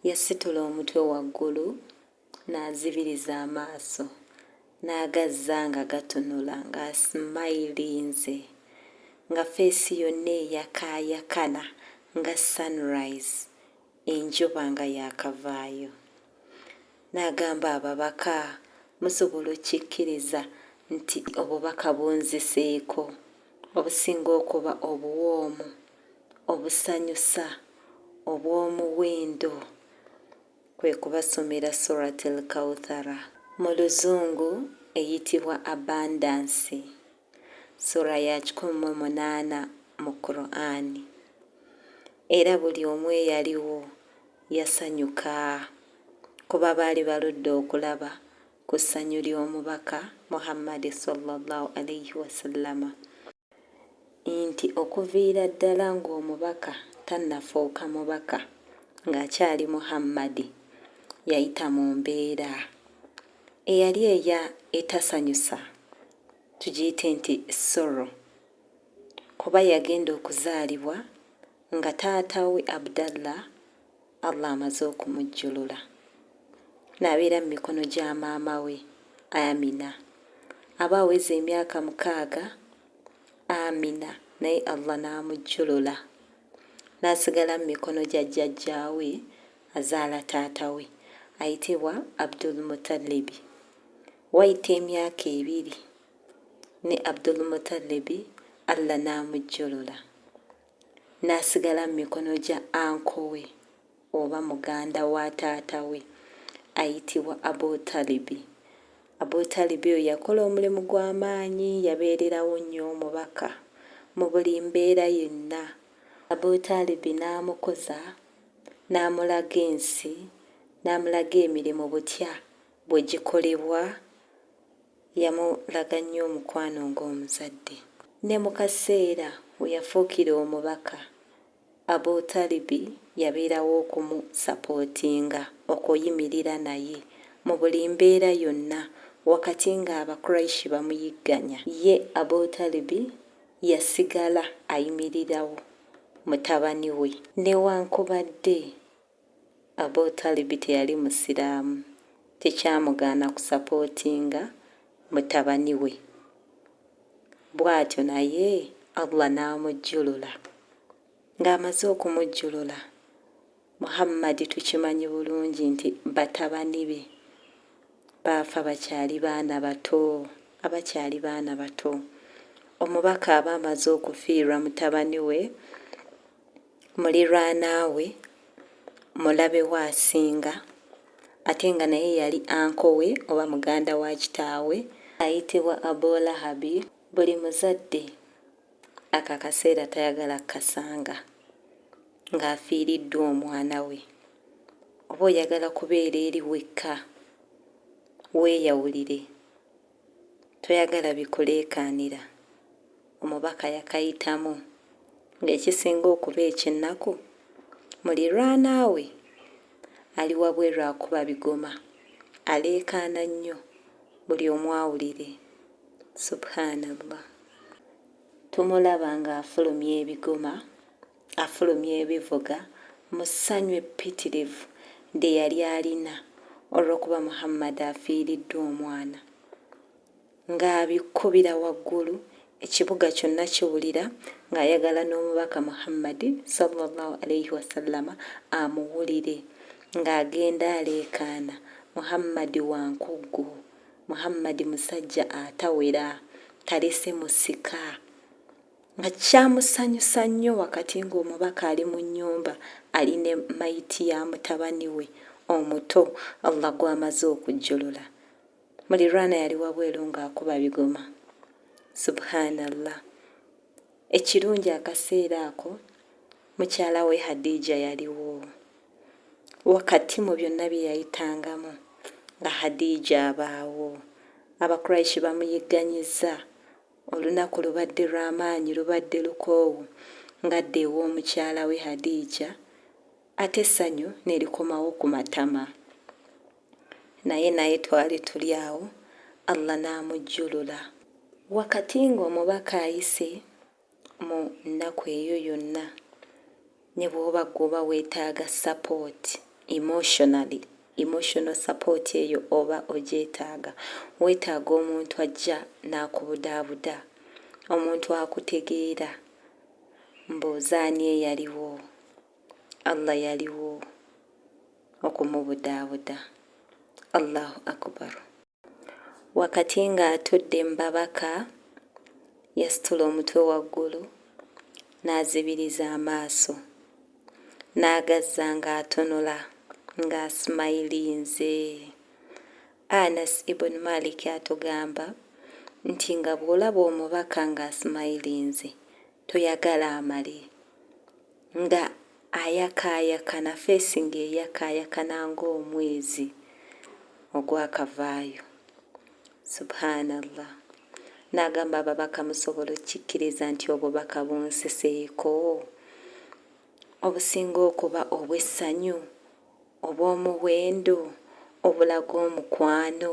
Yasitula omutwe waggulu n'azibiriza amaaso n'agazza nga gatunula ng'asimayilinze nga feesi yonna eyakaayakana nga sunrise enjuba nga yaakavaayo n'agamba ababaka, musobola okikkiriza nti obubaka bunziseeko obusinga okuba obuwoomu. obusanyusa obw'omuwindo kwe kubasomera Surat Al-Kawthara, mu luzungu eyitibwa Abundance, Surah ya kikumi mu munaana mu Kuraani. Era buli omu eyaliwo yasanyuka kuba baali baludde okulaba ku ssanyu ly'Omubaka Muhammad swalla Llaahu alaihi wasallama. nti okuviira ddala ng'omubaka tannafuuka mubaka ng'akyali Muhammadi yayita mu mbeera eyali eya etasanyusa tugiyite nti sorrow kuba yagenda okuzaalibwa nga taata we Abdallah Allah amaze okumujjulula n'abeera mu mikono gya maama we Amina aba aweza emyaka mukaaga Amina naye Allah n'amujjulula n'asigala mu mikono gya jjajjaawe azaala taata we ayitibwa Abdul Mutalibi. Wayita emyaka ebiri ne Abdul Mutalibi Allah n'amujjulula n'asigala mu mikono gya anko we oba muganda wa taata we ayitibwa Abu Talibi. Abu Talibi oyo yakola omulimu gwa maanyi, yabeererawo nnyo Omubaka mu buli mbeera yenna. Abu Talibi n'amukuza, n'amulaga ensi, n'amulaga emirimu butya bwe gikolebwa Yamulaga nnyo omukwano ng'omuzadde. Ne mu kaseera we yafuukira omubaka, Abu Talibi yabeerawo okumusapootinga, okuyimirira naye, mu buli mbeera yonna, wakati ng'Abakuraish bamuyigganya. Ye Abu Talibi yasigala ayimirirawo mutabani we. Newankubadde Abu Talib teyali Musiraamu, tekyamugaana kusapootinga mutabani we. Bw'atyo naye Allah n'amujjulula. Ng'amaze okumujjulula, Muhammadi tukimanyi bulungi nti batabani be baafa bakyali baana bato, abakyali baana bato. Omubaka aba amaze okufiirwa mutabani we. mulirwanaawe, mulabe we asinga ate nga naye yali anko we oba muganda wa kitaawe ayitibwa Abu Lahabi, buli muzadde ako akaseera tayagala kukasanga ng'afiiriddwa omwana we, oba oyagala kubeera eri wekka weeyawulire. Toyagala bikuleekaanira, omubaka yakayitamu ng'ekisinga okuba eky'ennaku mulirwanaawe ali wabweru akuba bigoma, aleekaana nnyo buli omu awulire. Subhanallah. Tumulaba ng'afulumya ebigoma. afulumya ebivuga mu ssanyu eppitirivu lye yali alina olw'okuba Muhammad afiiriddwa omwana, ng'abikubira waggulu, ekibuga kyonna kiwulira, ng'ayagala n'omubaka Muhammad, swalla Llaahu alaihi wasallama, amuwulire, ng'agenda aleekaana, Muhammad wa nkuggu, Muhammad musajja atawera, talese musika. nga kyamusanyusa nnyo wakati ng'omubaka ali mu nnyumba ali ne mayiti ya mutabani we omuto Allah gw'amaze okujjulula. Mulirwana yali wabweru ng'akuba bigoma. Subhaanallah! Ekirungi akaseera ako mukyala we Hadija yaliwo. Wakati mu byonna bye yayitangamu nga Hadija abaawo, Abakuraishi bamuyigganyizza Olunaku lubadde lwa maanyi lubadde lukoowu ng'adda ew'omukyala we Hadija ate essanyu ne likomawo ku matama. Naye naye twali tuli awo Allah n'amujjulula. Wakati ng'omubaka ayise mu nnaku eyo yonna, Ne bwoba gwe oba wetaaga support emotionally, emotional support eyo oba ogyetaaga. Wetaaga omuntu ajja n'akubudaabuda, omuntu akutegeera. Mbuuza ani eyaliwo Allah yaliwo okumubudaabuda? Allahu Akubaru. Wakati ng'atudde mu babaka, yasitula omutwe waggulu, n'azibiriza amaaso, n'agazza ng'atunula, ng'asimayilinze. Anas ibn Malik atugamba nti nga bw'olaba omubaka ng'asimayilinze, toyagala amale nga ayakaayakana feesi ng'eyakaayakana ng'omwezi ogwakavaayo subhanallah n'agamba ababaka musobola okikkiriza nti obubaka bunseseeko obusinga okuba obw'essanyu obw'omuwendo obulaga omukwano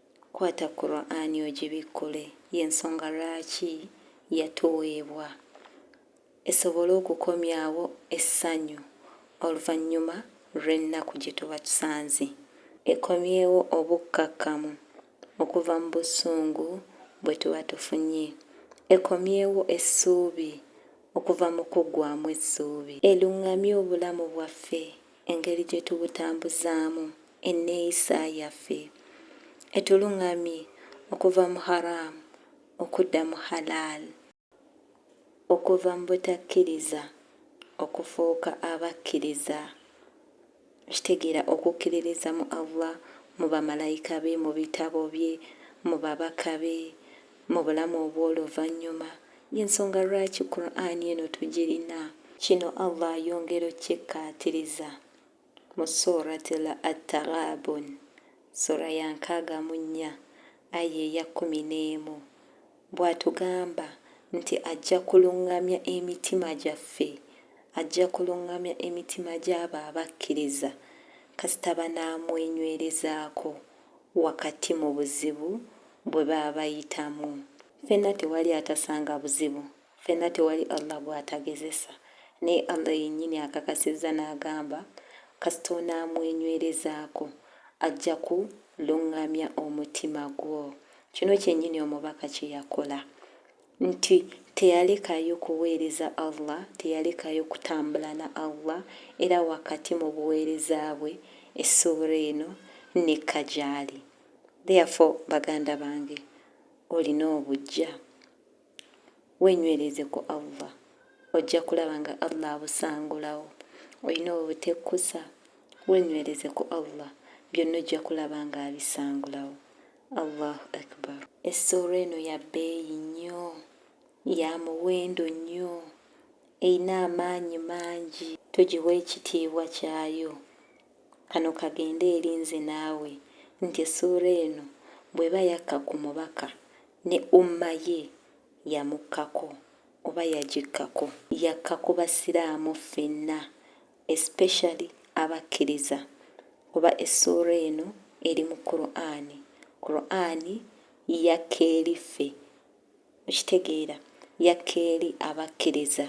Kwata Kuraani ogibikkule, y'ensonga lwaki yatuweebwa, esobole okukomyawo essanyu oluvannyuma lw'ennaku gye tuba tusanze, ekomyewo obukkakkamu okuva mu busungu bwe tuba tufunye, ekomyewo essuubi okuva mu kuggwaamu essuubi, elungamye obulamu bwaffe, engeri gye tubutambuzaamu, enneeyisa yaffe etulung'amye okuva mu Haraam okudda mu Halaal, okuva mu butakkiriza okufuuka abakkiriza, kitegeera okukkiririza mu Allah, mu Bamalayika be, mu Bitabo bye, mu Babaka be, mu Bulamu Obw'oluvannyuma. Y'ensonga lwaki Kuraane eno tugirina. Kino Allah ayongera okukikkaatiriza. Mu Surat At-Taghabun, Sura ya nkaaga mu nnya, Aya eya kkumi n'emu, bw'atugamba nti ajja kulungamya emitima gyaffe, ajja kulungamya emitima gy'abo abakkiriza kasita banaamwenywerezaako wakati mu buzibu bwe baba bayitamu. Ffenna tewali atasanga buzibu Ffenna tewali Allah gw'atagezesa. Naye Allah yennyini akakasizza n'agamba, Kasita onaamwenywerezaako, ajja ku lunngamya omutima gwo. Kino kyennyini Omubaka kye yakola. Nti teyalekayo kuweereza Allah, teyalekayo kutambula na Allah, era wakati mu buweereza bwe, Essuura eno n'ekka gy'ali. Therefore, baganda bange, olina obujja. wenywereze ku Allah ojja kulaba nga Allah abusangulawo olina obutekkusa wenywereze ku Allah byonna ojja kulaba nga abisangulawo Allahu Akbar essuula eno ya bbeeyi nnyo ya muwendo nnyo erina amaanyi mangi tugiwa ekitiibwa kyayo kano kagende eri nze naawe nti essuula eno bw'eba yakka ku mubaka Ne Ummah ye yamukkako oba yagikkako. Yakka ku Basiraamu ffenna especially Abakkiriza kuba essuura eno eri mu Kuraane. Kuraane yakka eri ffe. Okitegeera? Yakka eri Abakkiriza.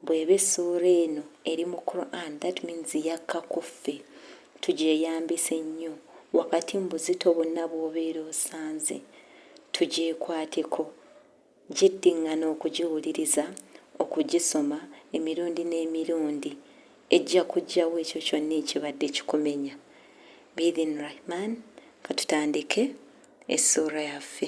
Bweba essuura eno eri mu Qur'an that means yakka kuffe tugyeyambise nnyo wakati mu buzito bwonna bwobeera osanze, tugyekwateko, gyiddingana okugiwuliriza, okugisoma, emirundi n'emirundi, ejja kujjawo ekyo kyonna ekibadde kikumenya. Bi-idhin Rahman, katutandike essuura yaffe.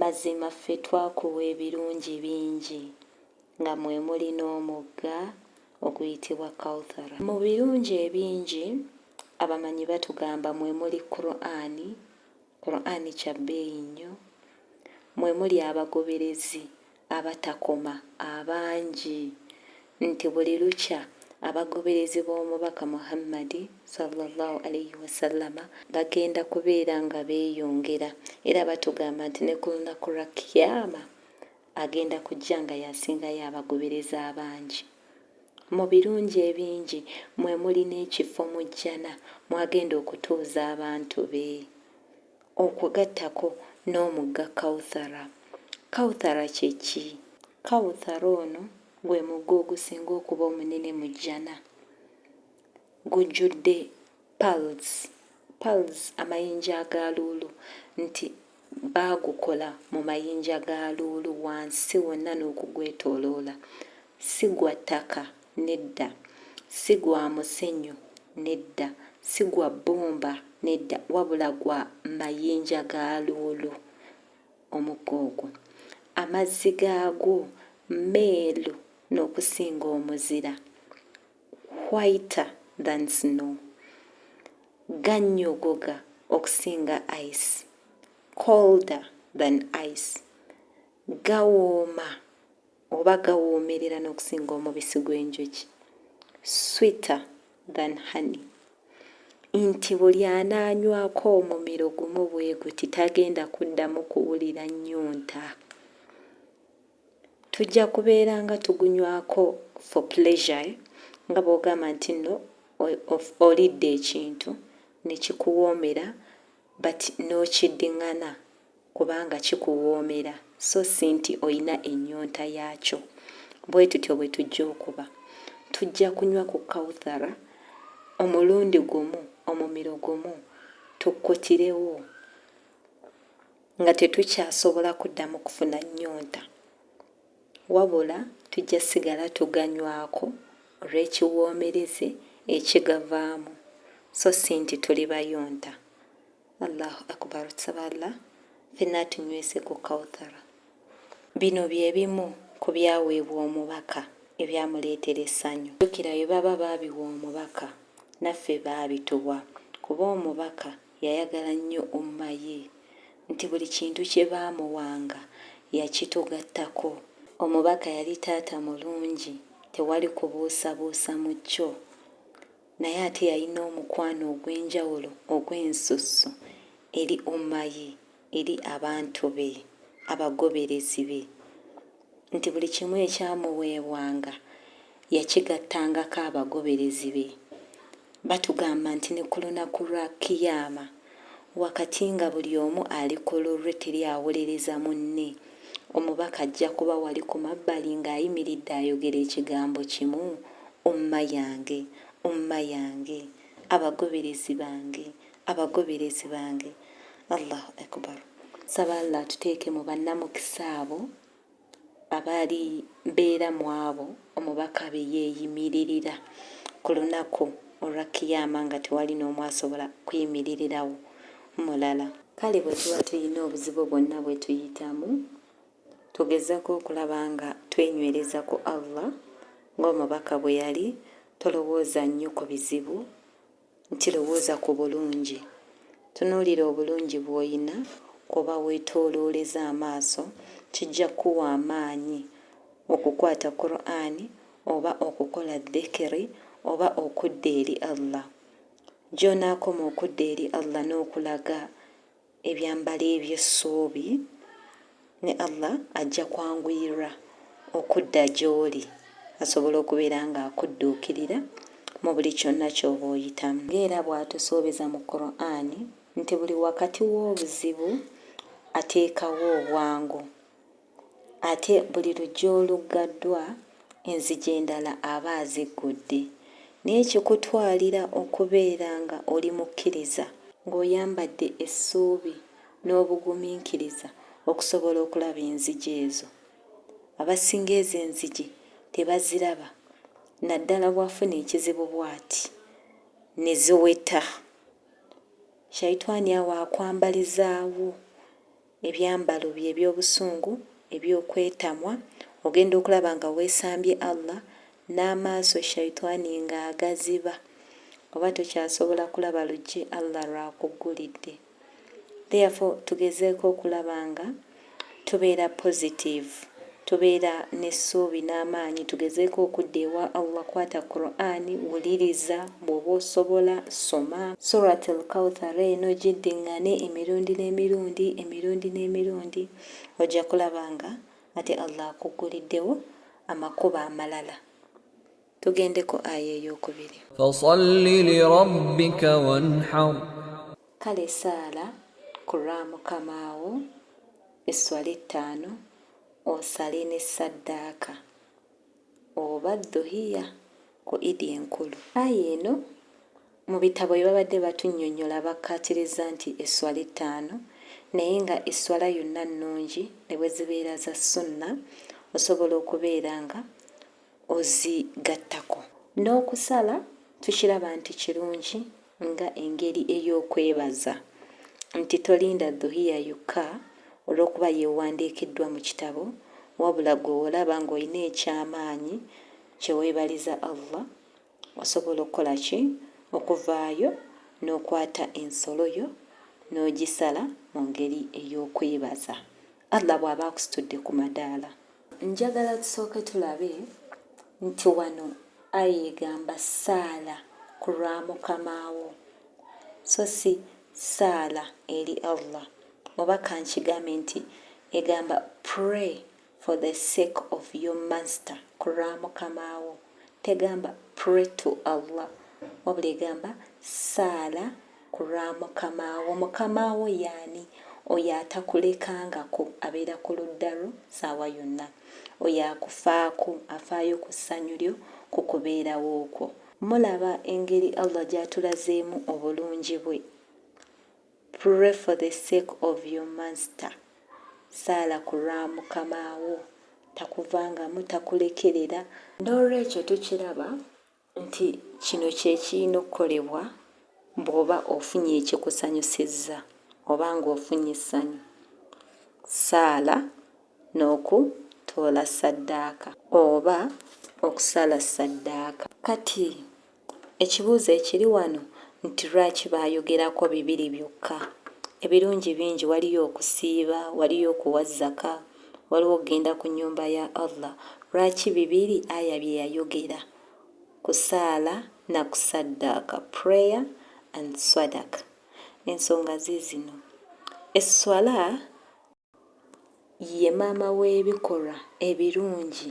Mazima ffe twakuwa ebirungi bingi nga mwe muli n'omugga oguyitibwa Kawthara. Mu birungi ebingi abamanyi batugamba mwe muli Kur'ani, Kur'ani kya bbeeyi nnyo, mwe muli abagoberezi abatakoma abangi nti buli lukya abagoberezi b'omubaka Muhammadi, swalla Llaahu alaihi wasallama, bagenda kubeera nga beeyongera era batugamba nti ne ku lunaku lwa Kiyaama agenda kujja nga y'asingayo abagoberezi abangi. Mu birungi ebingi mwe muli n'ekifo mu Jjana mw'agenda okutuuza abantu be. Okugattako n'omugga Kawthara. Kawthara kye ki? Kawthara ono gwe mugga ogusinga okuba omunene mu Jjana. Gujjudde pearls, pearls amayinja aga luulu nti baagukola mu mayinja ga luulu wansi wonna n'okugwetooloola. Si gwa ttaka. nedda, si gwa musenyu, nedda, si gwa bbumba, nedda, wabula gwa mayinja ga luulu, omugga ogwo. Amazzi gaagwo meeru n'okusinga omuzira, whiter than snow. Gannyogoga okusinga ice, colder than ice. Gawooma. oba gawoomerera n'okusinga omubisi gw'enjuki, sweeter than honey, nti buli anaanywako omumiro gumu bwe guti tagenda kuddamu kuwulira nnyonta. Tujja kubeera nga tugunywako for pleasure eh? nga bw'ogamba nti nno olidde ekintu ne kikuwoomera but n'okiddingana kubanga kikuwoomera so si nti olina ennyonta yaakyo. Bwe tutyo bwe tujja okuba. Tujja kunywa ku Kawthara omulundi gumu, omumiro gumu, tukutirewo, nga tetukyasobola kuddamu kufuna nnyonta. Wabula tujja sigala tuganywako olw'ekiwoomereze ekigavaamu, so si nti tuli bayonta. Allahu Akbar tusaba Allah fenna atunywese ku Kauthara. Bino bye bimu ku byaweebwa omubaka ebyamuleetera essanyu. Jjukira bye baba baabiwa omubaka naffe baabituwa kuba omubaka yayagala nnyo Ummah ye nti buli kintu kye baamuwanga yakitugattako. Omubaka yali taata mulungi tewali kubuusabuusa mu kyo. naye ate yalina omukwano ogw'enjawulo ogw'ensusso eri Ummah ye, eri abantu be, abagoberezi be, nti buli kimu ekyamuweebwanga yakigattangako abagoberezi be, batugamba nti ne ku lunaku lwa Qiyaamah, Wakati nga buli omu ali ku lulwe teri awolereza munne, omubaka ajja kuba wali ku mabbali ng'ayimiridde ayogera ekigambo kimu, Umma yange, Umma yange, abagoberezi bange, abagoberezi bange. Allahu Akubar. Nsaba Allah atuteeke mu bannamukisa abo. abaali beera mu abo omubaka be yeeyimiririra ku lunaku olwa Kiyaama nga tewali n'omu asobola kuyimiririrawo mulala. Kale bwe tuba tulina obuzibu bwonna bwe tuyitamu, tugezako okulaba nga twenywereza ku Allah ng'omubaka bwe yali, tolowooza nnyo ku bizibu nti lowooza ku bulungi. Tunuulira obulungi bw'olina kw'oba weetoolooleza amaaso, kijja kukuwa amaanyi okukwata Kuraani oba okukola dhikiri oba okudda eri Allah. Gy'onaakoma okudda eri Allah n'okulaga ebyambalo eby'essuubi, ne Allah ajja kwanguyirra okudda gy'oli asobole okubeera nga akudduukirira mu buli kyonna ky'oba oyitamu. Nga era bw'atusuubiza mu Kur'ani nti buli wakati w'obuzibu ateekawo obwangu Ate buli luggya oluggaddwa, enzigi endala aba aziggudde. Naye kikutwalira okubeera nga oli mukkiriza, ng'oyambadde essuubi n'obugumiikiriza okusobola okulaba enzigi ezo. Abasinga ezo enzigi tebaziraba, naddala bw'afuna ekizibu bw'ati, ne ziweta. Shaitwani awo akwambalizaawo. ebyambalo bye eby'obusungu, eby'okwetamwa, ogenda okulaba nga weesambye Allah, n'amaaso Shaitwani nga agaziba, oba tokyasobola kulaba luggi Allah lw'akuggulidde. Therefore tugezeeko okulaba nga tubeera positive. Tubeera n'essuubi n'amaanyi tugezeeko okudda ewa Allah Kwata Qur'an, wuliriza, bw'oba osobola, soma. Surat Al-Kawthar eno giddingane emirundi n'emirundi, emirundi n'emirundi, ojja kulaba nga ate Allah akugguliddewo amakubo amalala. tugendeko aya eyokubiri fasalli lirabbika wanhar kale saala ku lwa mukamaawo esswala ettaano osale ne saddaaka oba dhuhiya ku idi enkulu aya eno mu bitabo bye babadde batunyonyola bakkaatiriza nti esswala ettaano naye nga esswala yonna nnungi ne bwe zibeera za sunna osobola okubeera nga ozigattako. N'okusala tukiraba nti kirungi nga engeri ey'okwebaza nti tolinda Dhuhiya yokka olw'okuba y'ewandiikiddwa mu kitabo wabula gwe wolaba ng'olina eky'amaanyi kye weebaliza Allah osobola okukola ki? Okuvaayo n'okwata ensolo yo n'ogisala mu ngeri ey'okwebaza Allah bw'aba akusitudde ku madaala. Njagala tusooke tulabe nti wano aya egamba saala ku lwa mukama wo so si saala eri Allah oba kankigambe nti egamba pray for the sake of your master ku lwa mukama wo tegamba pray to Allah wabula egamba saala Ku lwa Mukama wo. Mukama wo y'ani? Oyo atakulekangako, abeera ku ludda lwo ssaawa yonna. Oyo akufaako, afaayo ku ssanyu lyo, ku kubeerawo kwo. Mulaba engeri Allah gy'atulazeemu obulungi bwe? Pray for the sake of your Master, saala ku lwa Mukama wo, takuvangamu, takulekerera. N'olwekyo tukiraba nti kino kye kirina okukolebwa bw'oba ofunye ekikusanyusizza oba ng'ofunye essanyu, ssaala n'okutoola ssaddaaka oba okusala ssaddaaka. Kati, ekibuuzo ekiri wano nti, Lwaki baayogerako bibiri byokka? Ebirungi bingi, waliyo okusiiba, waliyo okuwa zaka, waliwo okugenda ku nnyumba ya Allah, lwaki bibiri aya bye yayogera, kusaala na kusaddaaka, prayer and swadaka, ensonga ziizino, esswala ye maama w'ebikolwa ebirungi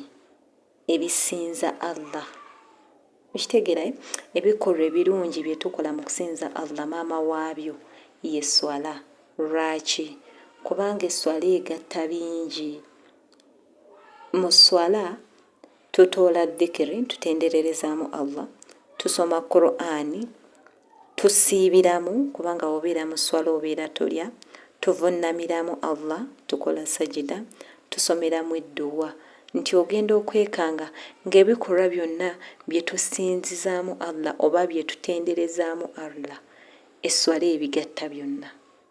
ebisinza Allah. Okitegeera eh? Ebikolwa ebirungi bye tukola mu kusinza Allah maama waabyo ye sswala. Lwaki? Kubanga esswala egatta bingi. Mu sswala tutoola dhikiri, tutendererezaamu Allah, tusoma Kuraani, Tusiibiramu kubanga bw'obeera mu sswala obeera tolya, tuvunnamiramu Allah, tukola sajida, tusomeramu edduwa nti ogenda okwekanga ng'ebikolwa byonna bye tusinzizaamu Allah oba bye tutenderezaamu Allah esswala ebigatta byonna.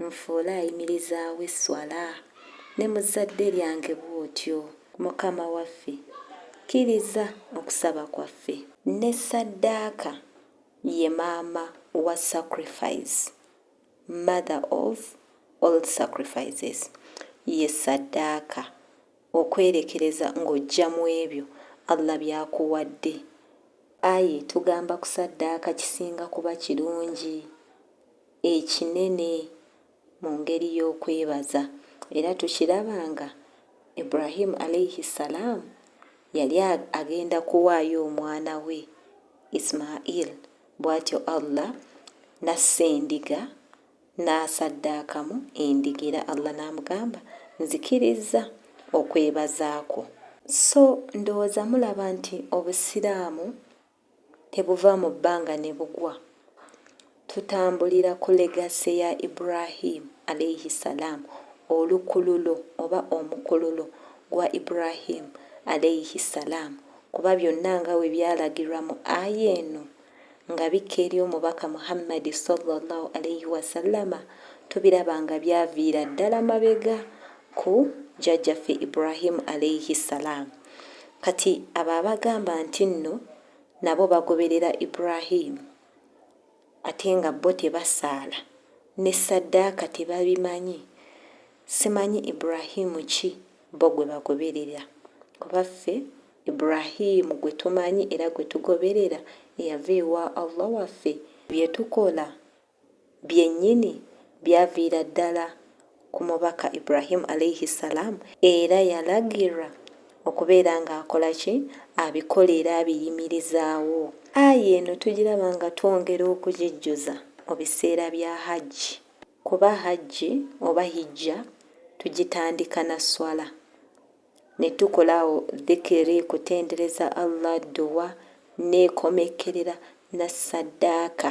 Nfuule ayimirizaawo esswala, ne mu zzadde lyange bw'otyo. Mukama waffe! Kkiriza okusaba kwaffe. Ne saddaaka ye maama wa sacrifice, mother of all sacrifices. Ye saddaaka, okwerekereza ng'ojja mu ebyo Allah by'akuwadde. Ayi tugamba kusaddaaka kisinga kuba kirungi. ekinene mu ngeri y'okwebaza era tukiraba nga Ibrahim Alaihi Salaam yali agenda kuwaayo omwana we Ismail bwatyo Allah nassa endiga n'asaddaakamu endiga era Allah n'amugamba nzikirizza okwebaza kwo. So ndowooza mulaba nti Obusiraamu tebuva mu bbanga ne bugwa. Tutambulira ku legacy ya Ibrahim, Alaihi salaam, olukululo oba omukululo gwa Ibrahim, Alaihi salaam, kuba byonna nga bwe byalagirwa mu aya eno nga bikka eri Omubaka Muhammadi, swalla Llaahu alaihi wasallama, tubiraba nga byaviira ddala mabega ku jjajja ffe Ibrahim alaihi salaam kati abo abagamba ntinno nabo bagoberera Ibrahim ate nga bo tebasaala ne saddaaka tebabimanyi simanyi Ibrahim ki bo gwe bagoberera kuba ffe Ibrahim gwe tumanyi era gwe tugoberera eyava ewa Allah waffe bye tukola byennyini byaviira ddala ku Mubaka Ibrahim Alaihi Ssalaam era yalagirwa okubeera nga akola ki? Abikola era abiyimirizaawo. Aya eno tugiraba nga twongera okugijjuza mu biseera bya Hajji kuba Hajji oba Hijja tugitandika na Sswala, ne tukola awo Dhikiri, kutendereza Allah, Dduwa, n'ekomekkerera na Saddaaka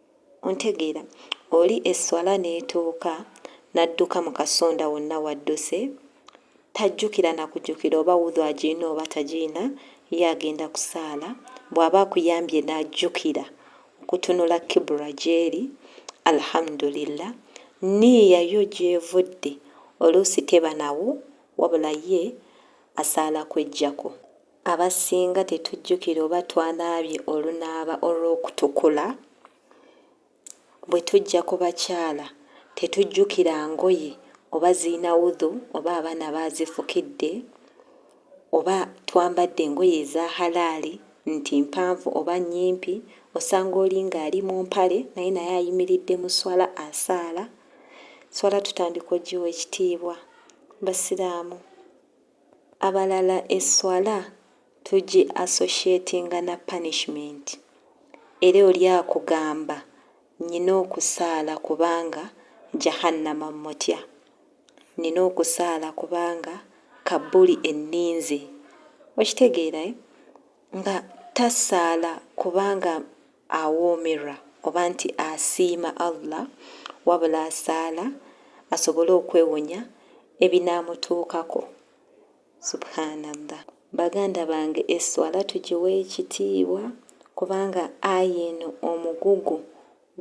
Ontegeera? Oli esswala n'etuuka n'adduka mu kasonda wonna w'adduse, tajjukira na kujukira oba wudhu agirina oba tagirina, ye agenda kusaala, bw'aba akuyambye n'ajjukira okutunula kibula gy'eri, Alhamdulillah, nniiya yo gy'evudde oluusi teba nawo wabula ye asaala kweggyako. Abasinga tetujjukira oba twanaabye olunaaba olw'okutukula. Bwe tujja ku bakyala, tetujjukira ngoye oba zirina wudhu oba abaana baazifukidde, oba twambadde engoye eza halaali nti mpanvu oba nnyimpi, osanga oli ng'ali mu mpale naye naye ayimiridde mu sswala asaala. Sswala tutandika ogiwa ekitiibwa Basiraamu. Abalala esswala tugi associatinga na punishment era oli akugamba nina okusaala kubanga Jahannama mmutya, nina okusaala kubanga kabbuli enninze, okitegeera eh? nga tasaala kubanga awoomerwa oba nti asiima Allah wabula asaala asobole okwewonya ebinaamutuukako. Subhaanallah. Baganda bange esswala tugiwe ekitiibwa kubanga aya eno omugugu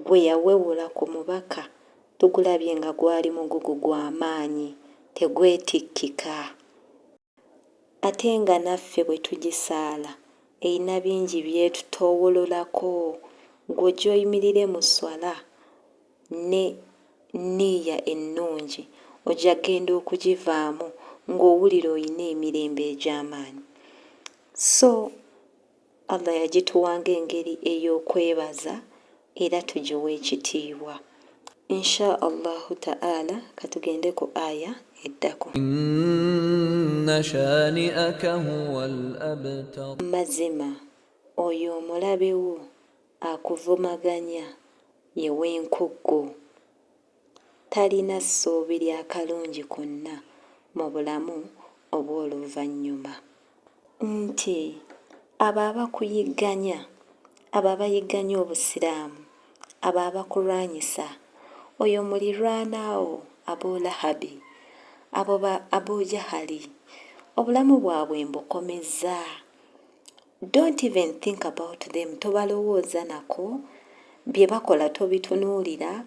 gwe yawewula ku mubaka tugulabye nga gwali mugugu gwa maanyi tegwetikkika. Ate nga naffe bwe tugisaala erina bingi by'etutoowololako. Ggwe ojja oyimirire mu sswala ne nniiya ennungi, ojja kugenda okugivaamu ng'owulira olina emirembe egy'amaanyi. So. Allah yagituwa ng'engeri ey'okwebaza era tugiwe ekitiibwa. Insha Allahu Ta'ala katugende ku aya eddako. Inna shani'aka huwal abtar. Mazima oyo omulabe wo akuvumaganya ye w'enkuggu. Talina ssuubi lya kalungi konna mu Bulamu Obw'oluvannyuma. Nti, abo abakuyigganya, abo abayigganya Obusiraamu, abo abakulwanyisa, oyo mulirwana wo Abu Lahabi, abo ba Abu Jahali, obulamu bwabwe mbukomezza, Don't even think about them tobalowooza nako bye bakola tobitunuulira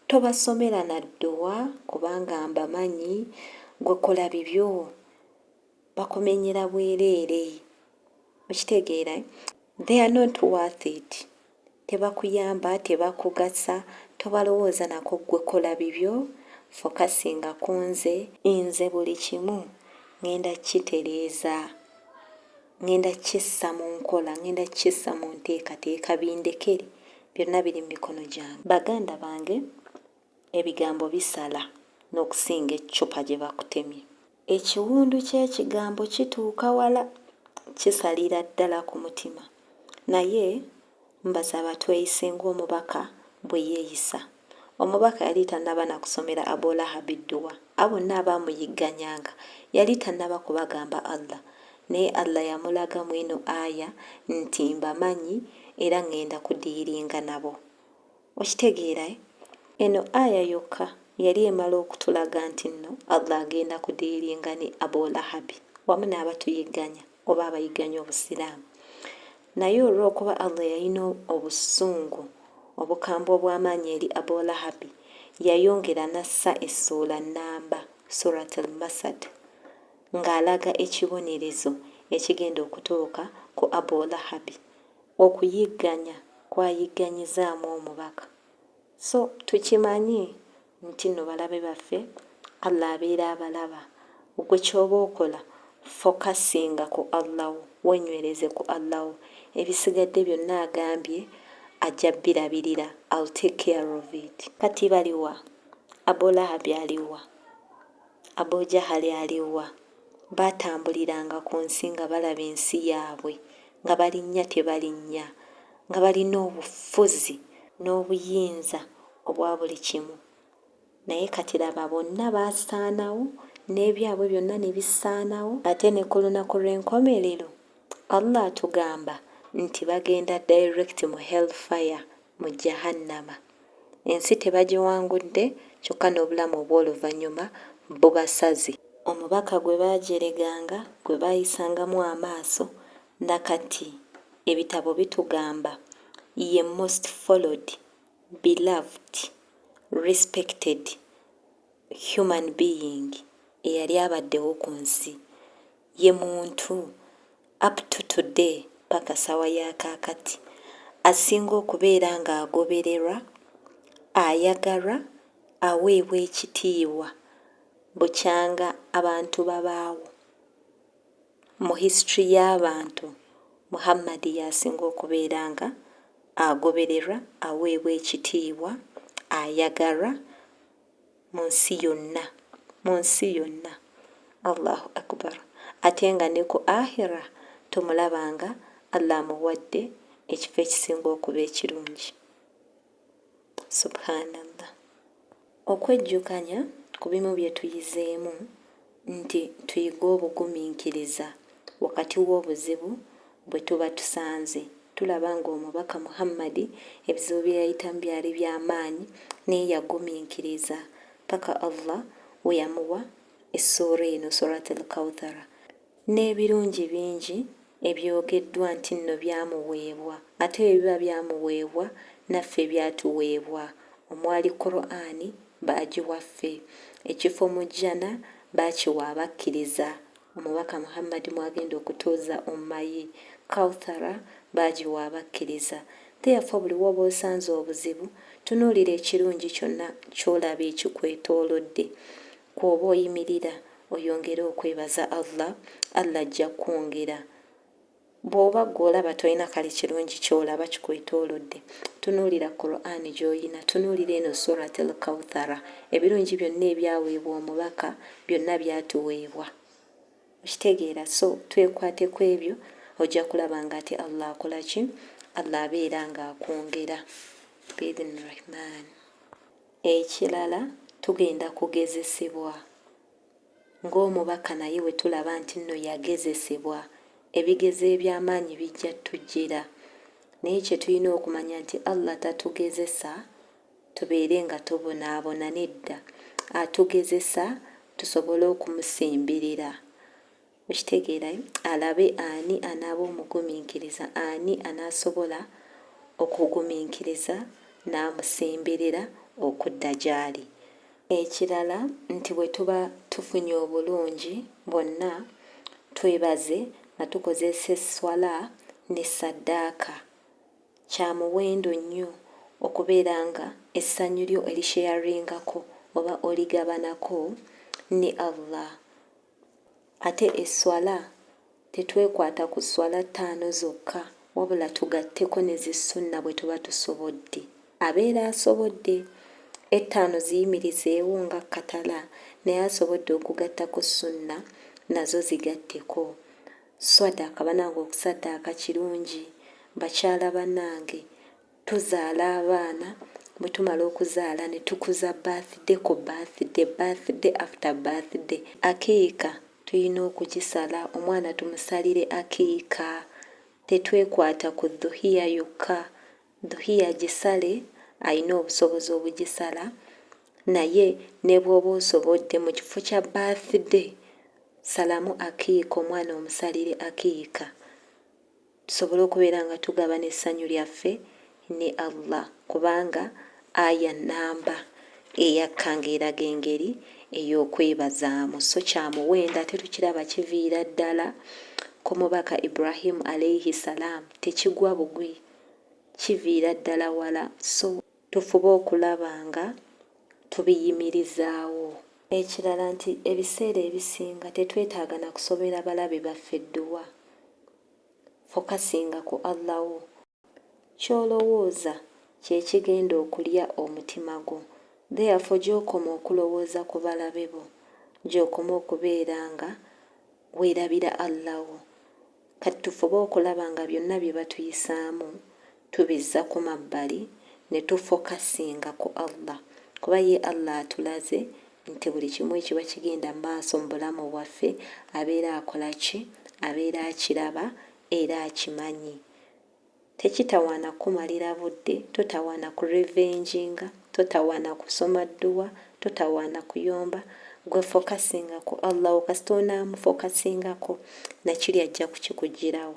tobasomera na dduwa kubanga mbamanyi gwe kola bibyo bakumenyera bwereere okitegeera they are not worth it Tebakuyamba, tebakugasa, tobalowooza nako ggwe kola bibyo, focusinga kunze. Nze buli kimu ngenda kukitereeza, ngenda kukissa mu nkola, ngenda kukissa mu nteekateeka bindekere, byonna biri mu mikono gyange. Baganda bange ebigambo bisala n'okusinga eccupa gye bakutemye. Ekiwundu ky'ekigambo kituuka wala, kisalira ddala ku mutima. Naye mbasaba tweyise ng'omubaka bwe yeeyisa. Omubaka yali tannaba na kusomera Abu Lahabi dduwa. Abo bonna abaamuyigganyanga, yali tannaba kubagamba Allah. Naye Allah yamulaga mw'eno aya nti, Mbamanyi era ng'enda kudiiringa nabo. Okitegeera eh? Eno Aya yokka yali emala okutulaga nti nno Allah agenda ku dealinga ne Abu Lahabi wamu n'abatuyigganya oba abayigganya obusiraamu. Naye olw'okuba Allah yalina obusungu obukambwe obw'amaanyi eri Abu Lahabi, yayongera n'assa essuula nnamba, Surat Al-Masad, ng'alaga ekibonerezo ekigenda okutuuka ku Abu Lahabi Okuyigganya kwayigganyizaamu omubaka so tukimanyi nti no balabe baffe Allah abeera abalaba gwe kyoba okola focusinga ku Allah wo wenywereze ku Allah wo ebisigadde byonna agambye ajja birabirira I'll take care of it. Kati baliwa? Abulahabi aliwa? Abu Jahali ali wa? Baatambuliranga ku nsi nga balaba ensi yaabwe, nga balinnya kye balinnya, nga balina obufuzi n'obuyinza obwa buli kimu. Naye kati laba, bonna baasaanawo, n'ebyabwe byonna ne bisaanawo. Ate ne ku Lunaku Lw'enkomerero, Allah atugamba nti bagenda direct mu hell fire, mu Jahannama. Ensi tebagiwangudde kyokka n'obulamu obw'oluvannyuma bubasaze. Omubaka gwe baajereganga, gwe baayisangamu amaaso, na kati ebitabo bitugamba ye most followed, beloved, respected human being eyali abaddewo ku nsi. ye muntu up to today paka sawa ya kakati asinga okubeera nga agobererwa, ayagalwa, aweebwa ekitiibwa bukyanga abantu babaawo. Mu history y'abantu Muhammad y'asinga okubeera nga agobererwa, aweebwa ekitiibwa, ayagalwa. mu nsi yonna mu nsi yonna Allahu Akubar ate nga ne ku Ahirah tomulaba nga Allah amuwadde ekifo ekisinga okuba ekirungi Subhanallah okwejjukanya ku bimu bye tuyizeemu nti tuyige obugumiikiriza wakati w'obuzibu bwe tuba tusanze. Tulaba ng'omubaka Muhammadi ebizibu bye yayitamu byali bya maanyi naye yagumiikiriza paka Allah we yamuwa essuura eno, Surat Al-Kawthara, n'ebirungi bingi ebyogeddwa nti nno byamuweebwa ate bwe biba byamuweebwa naffe byatuweebwa omwali Kuraani baagiwa ffe. Ekifo mu Jjana baakiwa Abakkiriza. Omubaka Muhammadi mw'agenda okutuuza Ummah ye. Kawthara baagiwa Abakkiriza. Therefore buli w'oba osanze obuzibu, tunuulira ekirungi kyonna ky'olaba ekikwetoolodde, kw'oba oyimirira, oyongere okwebaza Allah, Allah ajja kukwongera. Bw'oba ggwe olaba tolina kale kirungi ky'olaba kikwetoolodde, tunuulira Kuraane gy'olina, tunuulira eno Surat Al-Kawthara, ebirungi byonna ebyaweebwa Omubaka byonna byatuweebwa. Okitegeera? So twekwate kw'ebyo ojja kulaba nga ate Allah akola ki? Allah abeera nga akwongera Bi-idhni Rahman. Ekirala tugenda kugezesebwa. Ng'omubaka naye bwe tulaba nti nno yagezesebwa, ebigezo eby'amaanyi bijja tujjira. Naye kye tulina okumanya nti Allah tatugezesa tubeere nga tubonaabona, nedda, atugezesa tusobole okumusemberera. Okitegeera e? Alabe ani anaaba omugumiikiriza, ani anaasobola okugumiikiriza n'amusemberera okudda gy'ali. Ekirala nti bwe tuba tufunye obulungi bwonna, twebaze nga tukozesa esswala ne saddaaka. Kya muwendo nnyo okubeera nga essanyu lyo olisheyaringako oba oligabanako ne Allah. Ate esswala tetwekwata ku sswala ttaano zokka wabula tugatteko ne zi sunna bwe tuba tusobodde. Abeera asobodde ettaano ziyimirizeewo nga kkatala naye asobodde okugattako sunna nazo zigatteko. Swadaka banange okusaddaaka kirungi bakyala banange. Tuzaala abaana, bwe tumala okuzaala ne tukuza birthday ku birthday, birthday after birthday. Akiika tulina okugisala, omwana tumusalire akiika. Tetwekwata ku Dhuhiya yokka. Dhuhiya gisale alina obusobozi obugisala naye ne bw'oba osobodde mu kifo kya birthday salamu akiika omwana omusalire akiika. tusobole okubeera nga tugabana essanyu lyaffe ne Allah kubanga aya nnamba eyakka ng'eraga engeri ey'okwebazaamu so kya muwendo ate tukiraba kiviira ddala ku mubaka ibrahimu alaihi salaamu tekigwa bugwi kiviira ddala wala so tufube okulaba nga tubiyimirizaawo ekirala nti ebiseera ebisinga tetwetaaga na kusobera balabe baffe dduwa Fokasinga ku Allah wo. Ky'olowooza kye kigenda okulya omutima gwo. Therefore gy'okoma okulowooza ku balabe bo, gy'okoma okubeera nga weerabira Allah wo. Kati tufube okulaba nga byonna bye batuyisaamu tubizza ku mabbali ne tu focusinga ku Allah kuba ye Allah atulaze nti buli kimu ekiba kigenda maaso mu bulamu bwaffe abeera akola ki? abeera akiraba era akimanyi tekitawaana kukumalira budde, totawaana ku revenginga, totawaana kusoma dduwa, totawaana kuyomba, gwe focusinga ku Allah wo kasita onaamufocusingako nakiri ajja kukikuggyirawo.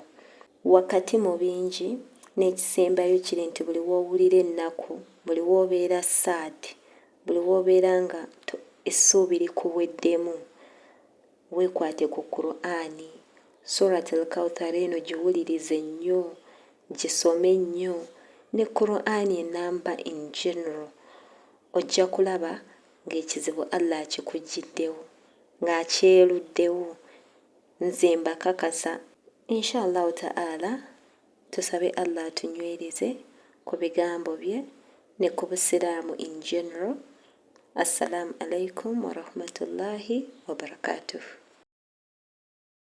Wakati mu bingi, n'ekisembayo kiri nti buli w'owulira ennaku, buli w'obeera sad, buli w'obeera nga to, essuubi likuweddemu, weekwate ku Kuraani, Surat Al-Kawthar eno giwulirize nnyo, gisome nnyo, ne Kuraani ennamba in general, ojja kulaba ng'ekizibu Allah akikuggyiddewo, ng'akyeluddewo. Nze mbakakasa Inshallahu ta'ala tusabe Allah atunywereze ku bigambo bye ne ku busiraamu in general Assalaamu Alaikum Warahmatullahi Wabarakatuhu.